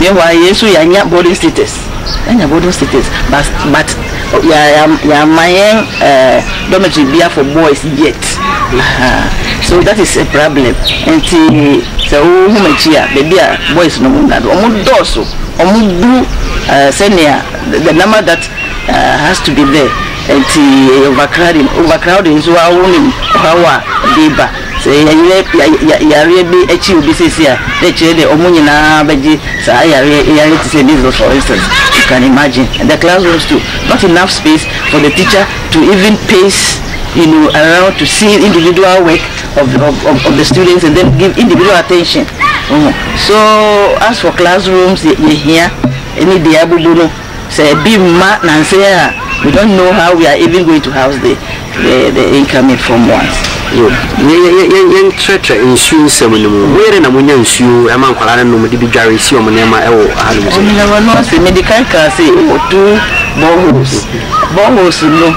Meanwhile yɛn nso yɛanya boarding status, yɛanya boarding status but but yɛamma yɛn dormitory bia for boys yet ahaa so that is a problem nti sɛ wohu m'akyi a baabi a boys no wɔnna no wɔn dɔɔso wɔn bu sɛnea the number that has to be there nti ɛyɛ overcrowding overcrowding nso ara wonim ɔhaw a ɛde ba. Sɛ yɛyerɛ yareɛ bi akyi obi seesei a, na ɛkyerɛ dɛ wɔn nyinaa bɛgye saa yareɛ yi ayɛ te sɛ measles for instance. You can imagine. In the classrooms too, not enough space for the teacher to even pace you know, around to see individual work of the, of, of, of the students and then give individual attention. So as for classrooms, yɛhia ne deɛ abubu no. Sɛ ebi mma nansa yi a we don't know how we are even going to house the the the incoming form ones so. Yɛ yɛ yɛ yɛ yɛntrɛtrɛ nsuo nsɛm no mu. Moyɛ dɛn na monya nsuo ma nkwadaa no nom de bi dware si wɔn nneɛma wɔ hanom sɛɛ? Ɔhene wɔno ase mede kan kaa se wɔ two boreholes boreholes no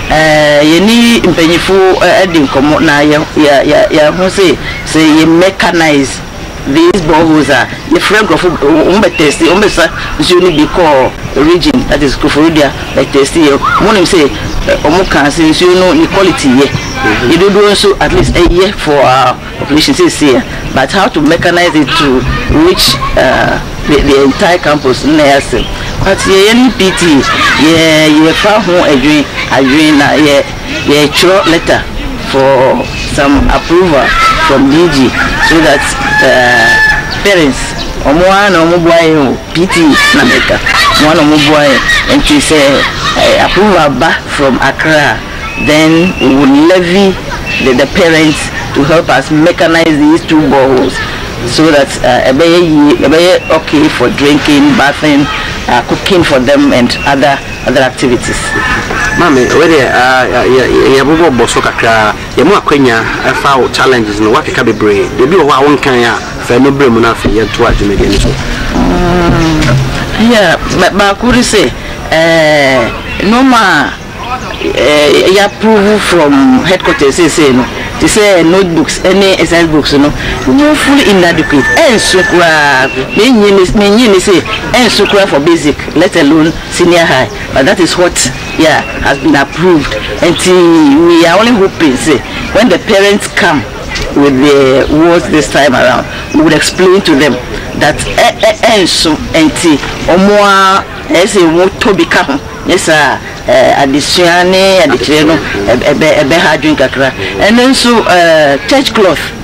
ɛɛ yɛne mpanyinfoɔ ɛde nkɔmɔ na yɛ yɛ yɛ yɛaho se sɛ yɛ mɛkanais. these boreholes a yɛfrɛ nkurɔfo wɔn bɛ test wɔn bɛsa nsuo no bi kɔɔ region that is Koforidua bɛ test yɛ wɔn nim sɛ wɔn kaa sɛ nsuo no ne quality yɛ ne dodoɔ nso at least ɛyɛ for our population seesie a but how to mechanize it to reach uh, the, the entire campus na yɛ asɛm but yɛyɛ ne pt yɛ yɛfa ho adwene adwene na yɛ yɛ twerɛ letter for some approval from DG so that parents ɔmo ara na ɔmo boa yɛn o PTA na meka ɔmo ara na ɔmo boa yɛn nti sɛ approval ba from Accra a then we will levy the the parents to help us mechanise these two boreholes so that ɛbɛyɛ yie ɛbɛyɛ okay for drinking, bathing, cooking for them and other. Other activities, Maame, wei deɛ ah, yɛbobɔ bɔ so kakra. Yɛn mu akwanya ɛfa wo challenges no, woakeka bebree. Deɛ bi wɔ hɔ a wonkan a, fa ɛno brɛ mu na afei yɛntoa dwumadie no so. Mm, yeah, baako ne sɛ, eh, nneɛma a eh, yɛapprove from headquarters seesei no, te sɛ notebooks ne exercise books no, woefully inadequate, ɛnso koraa, menyi ne sɛ ɛnso koraa for basic, let alone Senior high but that is what yeah has been approved nti we are only hoping sɛ when the parents come with the words this time around we would explain to them that ɛ ɛ ɛnso nti wɔn a ɛyɛ sɛ wɔn tɔ bi ka ho ne saa a ɛɛ adesua ne adekyerɛ no ɛbɛ ɛbɛha adwene kakra ɛno nso ɛɛ church cloth.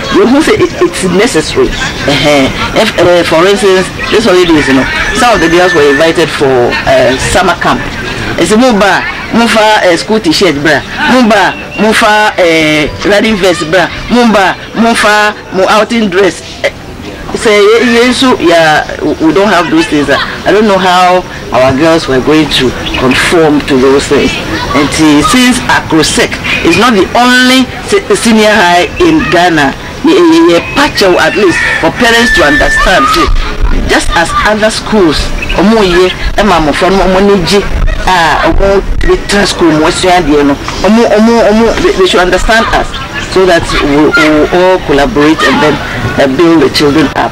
Wohu sɛ it's necessary eh for instance this holidays no some of the girls were invited for eh summer camp ɛsɛ mo ba a mo fa eh school t-shirt bra mo ba a mo fa eh running vest bra mo ba a mo fa mo outing dress eh sɛ yɛn nso yɛ a we don't have those things a I don't know how our girls were going to conform to those things nti since Acrosec is not the only Se senior high in Ghana ne eye ye pa kyɛw at least for parents to understand se just as other schools ɔmo ye ma mmofra no ma ɔmo ani gye a ɔmo tumi tra school mu sua adeɛ no ɔmo ɔmo ɔmo they should understand us so that we will all collaborate and then build the children up.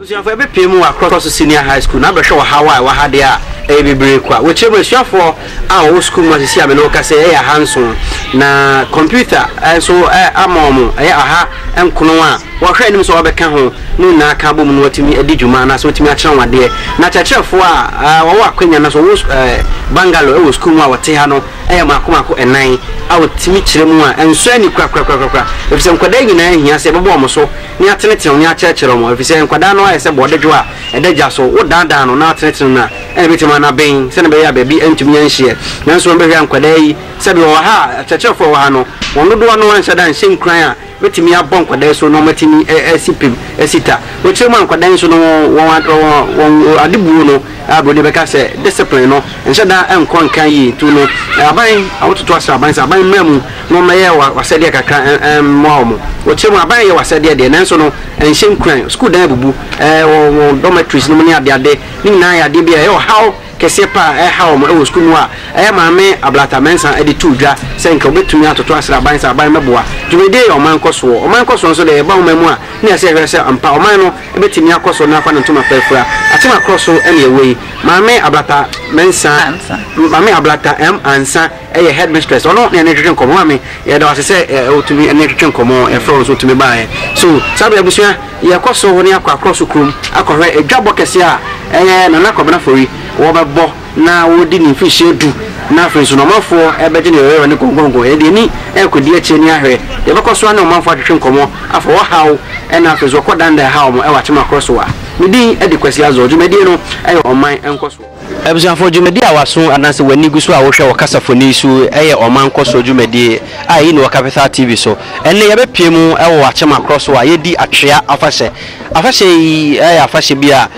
Abusuafoɔ bɛpue mu wɔ Akorɔso Senior High School na abɛhwɛ ɔhaw a ɛwɔ ha deɛ a ɛyɛ bebree kwa. Wɔ akyire mu, asuafoɔ a wɔwɔ sukuu mu asisi a me ne wo kasa yi yɛ ahanson, na kɔmputa nso ama wɔn yɛ ɔha nkono a wɔhwɛ anim sɛ wɔbɛka ho no nyinaa ka abom na wɔatumi adi dwuma anaasɛ wɔatumi akyerɛ wɔn adeɛ. Na akyerɛkyerɛfoɔ a wɔwɔ akwanya anaasɛ wɔwɔ Bangalore wɔ sukuu mu a wɔte ha no yɛ mmaako mmaako nnan a wɔtumi kyerɛ mu a ɛnsɔ ani korakorakorakora, ɛfiri sɛ nkwadaa nyinaa hia sɛ yɛbɛbɔ wɔn so ne atenetenew ne akyerɛkyerɛw mu, efisɛ nkwadaa no ayɛ sɛ bɔɔdedwo a ɛda gya so, wodaadaa no na atenetenew no a, ɛnna ebetumi ama no aben sɛnea ɛbɛyɛ a baabi antumi anhyeɛ. Nanso wɔn bɛhwɛ a nkwadaa yi, sɛbi wɔwɔ ha a, akyerɛkyerɛfo a wɔwɔ ha no, wɔn dodoɔ no anhyɛ da anhyɛ nkuran a ebetumi abɔ nkwadaa yi so na wɔatumi asi pem asi ta. Wɔ akyire mu a, nkwadaa yi nso no, wɔn a, wɔn, wɔn adebuo no, a Buroni bɛka sɛ discipline no, nhyɛ da nkɔ nkan yie. Nti no, aban, wototo asraban sɛ aban mmra mu, Mommɛyɛ w'asɛdeɛ kakra mmoa wɔn. Wɔkyerɛ mu a, aban yɛ w'asɛdeɛ deɛ, nanso no, ɛnhyɛ nkuran. Sukuu dan abubu, ɛwɔ wɔn dormitories no mu ne adeade. Ne nyinaa yɛ adeɛ bi a ɛyɛ ɔhaw kɛseɛ pa ara a ɛha wɔn wɔ sukuu mu a ɛyɛ Maame Ablata Mensah de too dwa sɛ nka wɔbɛtumi atoto asrɛ aban sɛ aban mmɛboa. Dwumadie yɛ ɔman nkɔsoɔ. Ɔman nkɔsoɔ nso deɛ, ɛba ɔman mu a, na ɛsɛ yɛhwɛ sɛ ampa ɔman no bɛtumi akɔ so na afa ne ntoma pa afura. Atemakorɔ so na ɛwɔ yi. Maame Ablata Mensah, Maame Ablata M. Ansah yɛ headmistress ɔno na yɛne twetwe nkɔmmɔ maame yɛda wase sɛ wotumi ɛne twetwe nkɔmmɔ yɛfrɛ wo nso wotumi baeɛ so saa bere abusua yɛkɔ so ne akɔ akorɔ so kurom akɔhwɛ adwabɔ kɛseɛ a ɛyɛ Nana Kwabena Afori wɔbɛbɔ na wɔdi ne mfirihyia du na afei nso na ɔmanfoɔ ɛbɛgye ne yɔyɔyɔ ne gɔngɔngɔn yɛde ani ɛrekɔdi akyire ne ahwɛ yɛbɛkɔ so ne ɔmanfoɔ atwetwe nkɔmmɔ afa wɔ haw ɛna afei nso wɔkɔ danda ɛha wɔn ɛwɔ akyem akorɔ so a me din ɛde Kwasi Azor dwumadie no ɛyɛ ɔman nkɔsoɔ. Abusuafo, dwumadi a w'aso anaasɛ w'ani gu so a wohwɛ wɔ kasafoni so yi yɛ ɔman nkɔsoɔ dwumadi a ɛyi no wɔ Capital TV so. Ɛnnɛ yɛbɛpue mu wɔ Akyema Korɔ so a yɛredi Atwea Afahyɛ. Afahyɛ yi yɛ afahyɛ bi a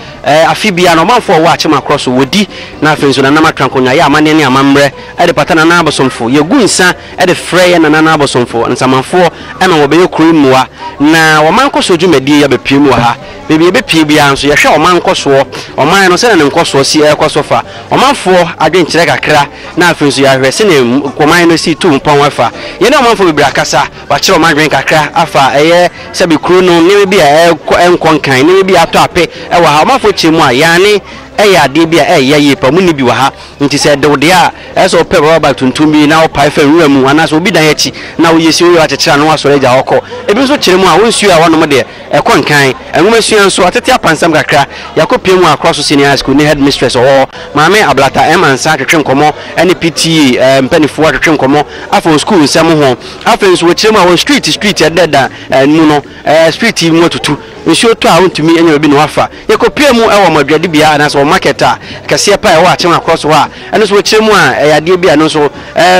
afe biara no ɔmanfoɔ a wɔwɔ Akyema Korɔ so wɔdi na afei nso Nana Matrankonnwa yɛ amanneɛ ne amammerɛ de pata Nana abosomfo. Yɛgu nsa de frɛ yɛn Nananom abosomfo, nsamanfoɔ ma wɔbɛyɛ kuro yi mmoa na ɔman nkɔsoɔ dwumadie yi abɛpue mu wɔ ha. baabi a yɛbɛpue biara nso, yɛhwɛ ɔman nkɔsoɔ, ɔman no sɛdeɛ ne nkɔsoɔ si rekɔ so fa ɔmanfoɔ adwenkyerɛ kakra, na afei nso yɛahwɛ sɛdeɛ ɔman no si tu mpɔn fa. Yɛne ɔmanfoɔ bebree akasa, wɔakyerɛ wɔn adwene kakra afa ɛyɛ sɛbe kuro no nneɛma bi a ɛrekɔ ɛnkɔ nkan, nneɛma bi a atɔ ape wɔ ha. Ɔmanfoɔ kyerɛ mu a, Yaane yɛ adeɛ bi a ɛyɛ yie paa, wɔnni bi wɔ ha, nti sɛ ɛde wo deɛ a, ɛyɛ sɛ wopɛ rubber bag tuntum bi na wopae fa nwura mu, anaasɛ obi dan akyi na woyɛ si woyɛ a, woakyekyere ano na woasɔre agya hɔ kɔ. Ebi nso kyerɛ mu a, wɔnsuo a wɔnom deɛ, Ɛkɔ Nkan Nwomasua nso, atete apansam kakra. Yɛakɔpia mu wɔ Akoraso Senior High School ne Headmistress wɔ hɔ, Maame Ablata M. Ansah twetwe nkɔmmɔ ne PTA mpanimfoɔ atwetwe nkɔmmɔ afa wɔn sukuu nsɛm ho. Afei nso wɔkyerɛ mu a wɔn street street a ɛdeda mu no, street mu atutu, nsuo tɔ a wɔntumi nya baabi na wɔafa. Yɛkɔpia mu wɔ wɔn adwadibea anaasɛ wɔn market a kɛseɛ pa a ɛwɔ Akyem Akoraso hɔ a ɛno nso wɔkyerɛ mu a ɛyɛ adeɛ bi a ɛno nso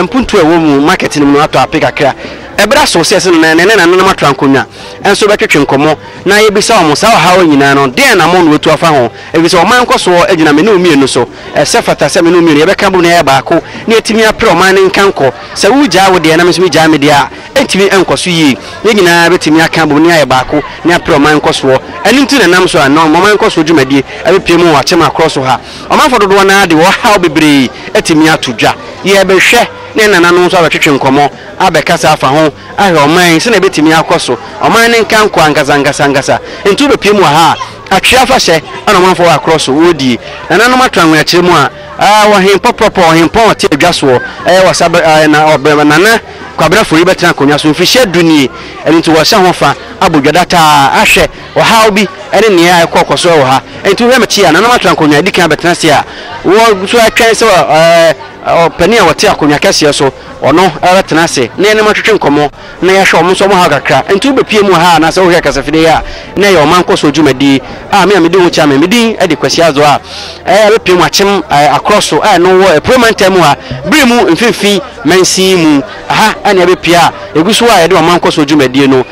mpuntuo a ɛwɔ mu market no mu no atɔ ape kakra. Ɛberɛ aso sɛ ɛsɛ na ɛnnɛ na nananom atra nkonnwa. nso bɛtwetwe nkɔmmɔ na yɛabisa wɔn saa ɔhaw yi nyinaa no deɛn anammɔn na wɔatu afa ho ɛfisɛ ɔman nkɔsoɔ gyina me ne wo mmienu so. Ɛsɛ fata sɛ me ne wo mmienu yɛbɛka abom na yɛayɛ baako na yɛatumi apere ɔman no nkankɔ. Sɛ woregyae wo deɛ na me nso megyae me deɛ a, ɛntumi nkɔ so yie. Yɛn nyinaa bɛtumi aka abom na yɛayɛ baako na yɛapere ɔman nkɔsoɔ. Ɛno nti na ɛnam so a nnɛ ɔman nkɔsoɔ dwumadie abɛpue mu wɔ akyɛmma korɔ so ha. Ɔmanfoɔ dodoɔ no ara de ɔhaw bebree atumi ato dwa. Yɛrebɛhwɛ na yɛn nananom nso abɛtwetwe nkɔmmɔ abɛkasa afa ho ahwɛ ɔman yi sɛnea ebetumi akɔ so, ɔman no nka nkɔ ankasa ankasa ankasa. Enti wobepue mu wɔ ha a, Atwee afahyɛ na ɔmanfoɔ wɔ akorɔ so wɔredie. Nananom ato anwea kyerɛ mu a, ah, ɔhen pɔprɔpɔ, ɔhenpɔn a ɔte adwa soɔ, eh, wɔ sa bere, ah, na ɔbɛ, Nana Kwabena Fori bɛtena akonnwa so mfirihyia du nie, ɛno nti wɔrehyɛ ho fa, abɔ dwa dataa, ahwɛ ɔhaw bi ne nea ɛkɔ kɔ so wɔ ha. Enti wohwɛ m'akyi a, nananom ato ankonnwa adi kan abɛtena ase a, wɔn nso retwɛn sɛ, eh, ɔpanin a ɔte akonnwa kɛseɛ so, Ɔno bɛtena ase na yɛne no atwetwe nkɔmmɔ na yɛahwɛ wɔn nso wɔhaw kakra. Enti wobɛpue mu wɔ ha anaasɛ wohwɛ kasafidie yi a, na ɛyɛ ɔman nkɔsoɔ dwumadie a me a medi ho chairman, me din de Kwasi Addo a ɛbɛpue mu akyem akorɔ so a ɛno wɔ Apueɛ Mantam mu ha, Biri mu mfimfini mansin mu. Ɛha na ɛbɛpue a ɛgu so a yɛde ɔman nkɔsoɔ dwumadie no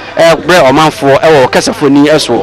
brɛ ɔmanfoɔ wɔ ɔkasafoni soɔ.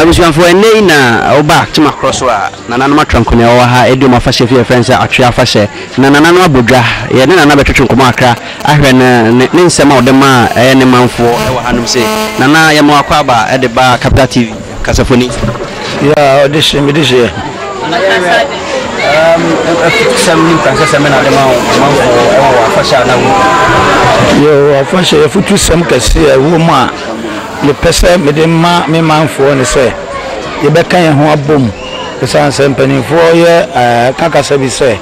Abusuafoɔ ɛnnɛ yi na wo ba te makorɔ so a. Nananom atra nko nea ɛwɔ ha redi wɔn afahyɛ fi a yɛfrɛ no sɛ Atwe Afahyɛ. Na Nananom abɔ dwa. Yɛne Nana bɛtwetwe nkɔmmɔ kakra ahwɛ ne ne ne nsɛm a ɔde ma ɛyɛ ne manfoɔ wɔ hanom sei. Nana, yɛma wo akwaaba de ba Capital TV kasafo ni. Yeah, ɔde hyɛ, mede hyɛ. Nana yɛwerɛ um, sɛm ne nkansasɛm bɛ na ade ma wo manfoɔ ɛwɔ wɔ afahyɛ a na wo. Yo, afahyɛ yɛfotu sɛm kɛse a ɛwɔ mu a. mepɛ sɛ mede ma me manfoɔ ne sɛ, yɛbɛka yɛn ho abom, ɛsiane sɛ mpanimfoɔ yɛ ka kasa bi sɛ,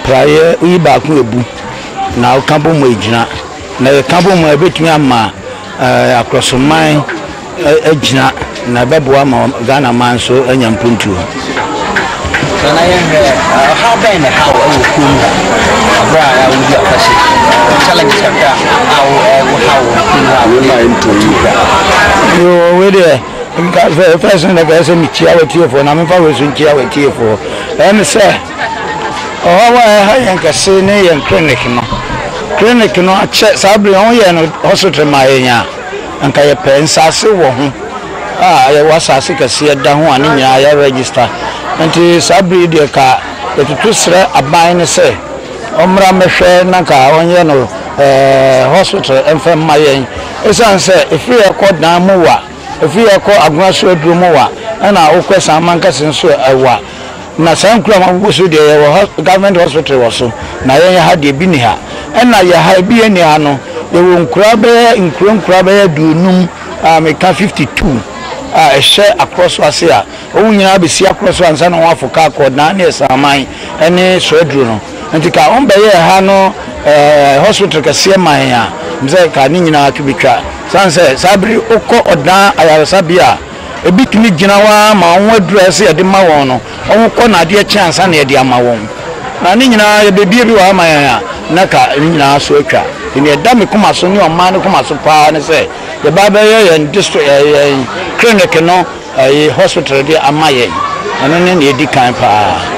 praeɛ woyi baako ɛbu, na woka bom a ɛgyina, na yɛka bom a ɛbɛtumi ama akorɔsoman agyina. Na ɛbɛboa ma Ghana man nso anya mpuntuo. Nana yɛnhwɛ ɔhaw bɛn na ɛhaw wɔ kurom ha aberɛ a yɛawo di afahyɛ yi challenges kakra a wo ɛwo haw wɔ kurom ha wei ma ɛntɔ yi da. Yoo wei deɛ nka fɛ fɛs no nɛka ɛsɛ mekyia wɔ tiefoɔ na memfa wei so nkyia wɔ tiefoɔ ɛne sɛ ɔhaw a ɛha yɛn kɛse ne yɛn clinic no clinic no akyɛ saa bere ho yɛ no hospital ma yɛn a Anka yɛpɛ nsaase wɔ ho a yɛwɔ asaase kɛseɛ da ho a ne nyinaa yɛ register nti saa bere yi deɛ ka yɛtutu srɛ aban no sɛ ɔmmra mmɛhwɛ na nka ɔnyɛ no hospital mfa mma yɛn ɛsiane sɛ ɛfiri yɛ kɔ dan mu wa ɛfiri yɛ kɔ agona so aduro mu wa ɛna wokɔ asan mankɛse nso wa. Na saa nkurom a wogu so deɛ yɛwɔ hɔ government hospital wɔ so na yɛn ha deɛ ebi ni ha ɛna yɛ ha ebi yɛ ni ha no yɛwɔ nkuraa bɛyɛ nkuro nkuraa bɛyɛ aduonum a meka fifty two a ɛhyɛ akorɔ so ase a wɔn nyinaa bɛsi akorɔ so ansa na wɔn afo kaa kɔɔ naa ne ɛsaaman ɛne soaduro no nti ka wɔn bɛyɛ ha no ɛɛ hospital kɛseɛ man a mesɛ ka ne nyinaa to bɛtwa san sɛ saa bere wokɔ ɔdaa ayaresabea a Ebi tumi gyina hɔ ara ma wɔn aduru a ɛsɛ sɛ yɛde ma wɔn no, wɔkɔ na adeɛ kye ansa na yɛde ama wɔn. Na ne nyinaa yɛbɛbue bi wɔ ha ama yɛn a, na ka ne nyinaa so atwa. Nti nea ɛda me koma so ne ɔman no koma so pa ara ne sɛ, yɛbɛ abɛyɛ yɛn district ɛɛ yɛn clinic no ɛyi hospital de ama yɛn. Ɛno ne nea ɛdi kan pa ara.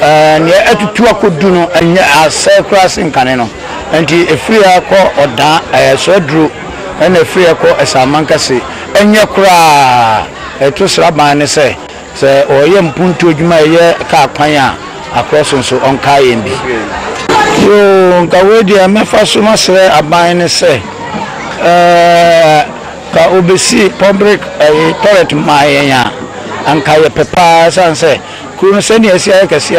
Nea atutu akodu no nyɛ asɛe koraa sen kane no. Enti ɛfiri ha kɔ Ɔdaa, ɛsɔ aduro, ɛnna ɛfiri ha kɔ Asamankɛse. Ɛnyɛ koraa a, ɛto sraban no sɛ, sɛ wɔreyɛ mpontuo adwuma a ɛyɛ kaa kwan a, Akorɔso nso, ɔnkae yɛn bi. Yoo, nka wei deɛ mɛfa so masrɛ aban no sɛ, ka wɔbɛsi public toilet mmaa yɛn a, anka yɛpɛ pa ara, ɛsiane sɛ Kuro no sɛnea asi ayɛ kɛse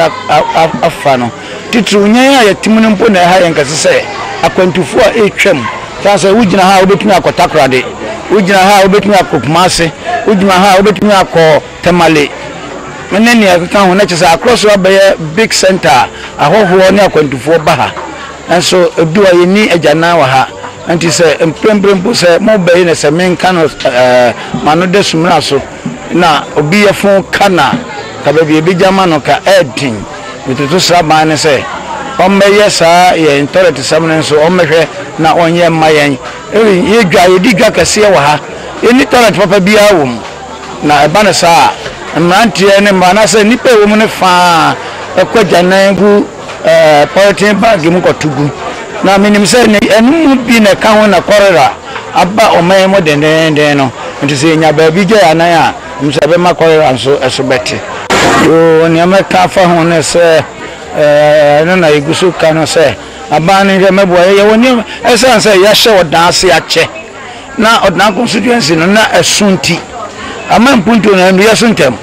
afa no, titiriw nyan a yɛte mu no mpo na ɛha yɛn kɛse sɛ akwantufo a ɛretwam. Esiane sɛ wugyina ha a wubetumi akɔ Takoradi, wugyina ha a wubetumi akɔ Kumasi, wugyina ha a wubetumi akɔ Tamale ne nea ɛkeka ho no, kyerɛ sɛ Accra so abɛyɛ big centre a ahɔhoɔ ne akwantufo ba ha. Nanso edu a yenni agyanan wɔ ha. Enti sɛ mprempren mpo sɛ mobɛyɛ no sɛ menka no m'ano da sumina so, Na obi yɛfo ka na ka baabi a ebegya ama no ka ɛɛden. Metoto sraban no sɛ ɔmmɛyɛ saa yɛn tɔlɛtesɛm no nso ɔmmɛhwɛ na ɔnyɛ mma yɛn. Erin, Yɛ dwa, yɛdi dwa kɛseɛ wɔ ha. Yɛnni tɔlɛt papa biara wɔ mu. Na ɛba no saa a, mmeranteɛ ne mmaa anaasɛ nnipa a ɛwɔ mu no fã ara kɔ agyanan gu. ɛɛ pɔleten baage mu kɔto gu. Na menim sɛ ne ɛno mu bi na ɛka ho na kɔlera aba ɔman yi mu dendeenden no. Nti sɛ yɛnya baabi gya yɛn anan a, menim sɛ ɛbɛma kɔlera nso so bɛte. Yoo, nea mɛka afa ho ne sɛ, ɛɛ ɛno na yɛgu so ka no sɛ, aban no nhwɛ mmɛboa yɛn. Yɛwɔ nneɛma, ɛsiane sɛ yɛahyɛ ɔdan ase akyɛ. na Ɔdena constituency no na ɛso nti, ama mpuntuo no annuiɛ so ntɛm.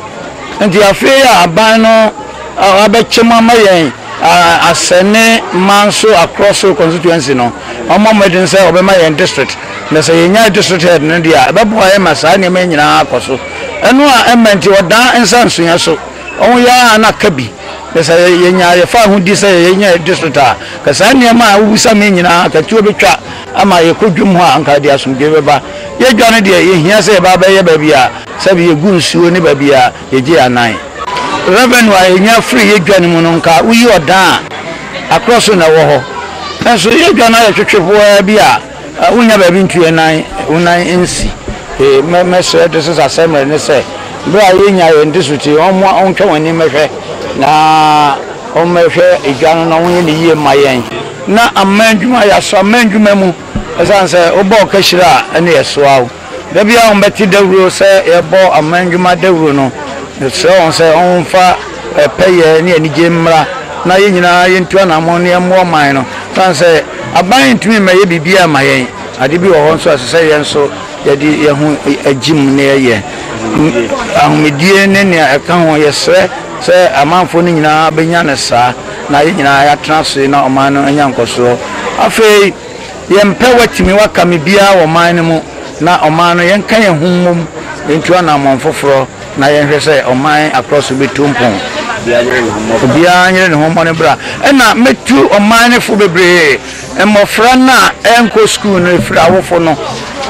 Nti afei a aban no abɛkyɛ mu ama yɛn Asɛne Manso Akrɔso constituency no, wɔmmɔ mmɔden sɛ wɔbɛma yɛn district. Na sɛ yɛnya district head no deɛ a, ɛbɛboa yɛn ma saa nneɛma yi nyinaa akɔ so. Ɛno a ɛmma nti Ɔdaa nsa nsuiɛ so. Wɔn yɛ ara na ka bi. Na sɛ yɛnya yɛfaa ho di sɛ yɛnya district a, ka saa nneɛma a wobisa me nyinaa, ka tuo bɛtwa. Ama yɛkɔ dwam hɔ a, anka yɛde asomdwoe bɛba. Yɛredwane deɛ, yɛhia sɛ yɛba abɛyɛ baabi a sɛbe yɛgu nsuo ne baabi a yɛgye yɛn anan. Revenue a yɛnya firi yɛn dwane mu no, anka woyi ɔdan a, akorɔ so na ɛwɔ hɔ. Nanso yɛredwane na ayɛ twetwe po ara bi a, wonnya baabi ntu yɛn nan, wo nan nsi. Me, mɛsrɛ de sesa sɛ mmerɛ ne sɛ, berɛ a yɛnya yɛn de so ti, wɔmmoa, wɔntwa wɔn ani mmɛhwɛ na wɔmmɛhwɛ dwa no na wɔnyɛ no yie mma yɛn. Na aman ndwuma yɛ aso aman ndwuma mu osian sɛ wobɔ ɔkashira a ɛne yɛsoa wo da biara wɔn bɛte dawuro sɛ yɛbɔ aman ndwuma dawuro no mesrɛ wɔn sɛ wɔn nfa pɛ yɛ ne anigye mmra na yɛn nyinaa yɛntu anamɔn na yɛmmoa ɔman no osian sɛ aban ntumi mmɛ yɛ biribiara mma yɛn ade bi wɔ hɔ nso a ɛsɛ sɛ yɛn nso yɛde yɛn ho gye mu na yɛyɛ ahomedie ne nea ɛka ho yɛsrɛ sɛ amanfoɔ no nyinaa bɛnya no saa. na yɛn nyinaa yɛatena ase na ɔman no anya nkɔsoɔ. Afei, yɛmpɛ woatumi woaka me biara wɔ ɔman no mu na ɔman no yɛnka yɛn ho mmom ntu anammɔn foforɔ na yɛnhwɛ sɛ ɔman akorɔ so bɛtu mpɔn. Obiara nyere ne ho mmɔ ne bra. Ɛna mɛtu ɔman no fo bebree, mmɔfra no a ɛnkɔ sukuu no ɛfiri awofo no.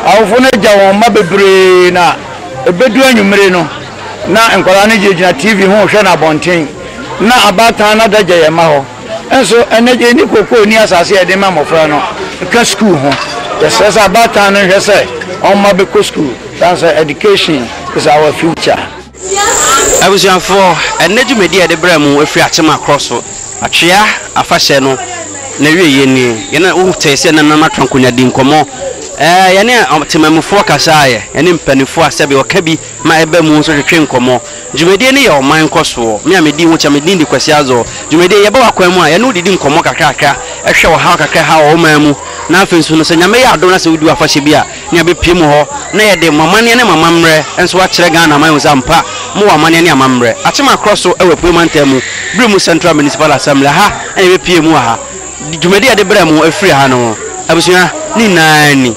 Awofo no agya wɔn mma bebree na ɛbɛdu anwummere no, Ná nkwadaa no gyinagyina TV ho rehwɛ no abɔnten. Ná abaatan no adagya yɛn mma hɔ. Nanso, ɛnnɛ de, yenni kookoo nni asase a yɛde rema mmofra no ka sukuu ho. Yɛsrɛ sɛ abaatan no nhwɛ sɛ wɔn mma bɛkɔ sukuu, esiane sɛ education is our future. Abusuafo, ɛnnɛ dwumadi a yɛde brɛ mo firi Akyema Korɔ so Atwea Afahyɛ no n'awieeɛ ni. Yɛne, wotee sɛ na Nana Twanko Nya dii nkɔmmɔ. Yɛne Akyemamufo kasaeɛ, yɛne mpaninfoɔ a sɛbe ɔka bi ma ɛba mu nso twetwe nkɔmmɔ. Dwumadie no yɛ ɔman nkɔsoɔ. Me a medi ho kyɛ, me din de Kwasi Azor. Dwumadie yi, yɛba w'akwan mu a, yɛne wo didi nkɔmmɔ kakrakra, hwɛ ɔhaw kakra a ɛhaw wo ɔman mu, na afei nso no, sɛ Nyame yɛ adom na sɛ wodi w'afahyɛ bi a, ne yɛbɛpue mu hɔ na yɛde mo amanneɛ ne mo amammerɛ nso akyerɛ Ghana aman ahu sɛ ampa mowɔ amanneɛ ne amammerɛ. Akyema korɔ so wɔ Apueeɛ Mantam mu, Birim Central Municipal Assembly, ɛha na yɛbɛpue mu wɔ ha. Dwumadie a yɛde brɛ mo firi ha no, abusua ne nyinaa ni.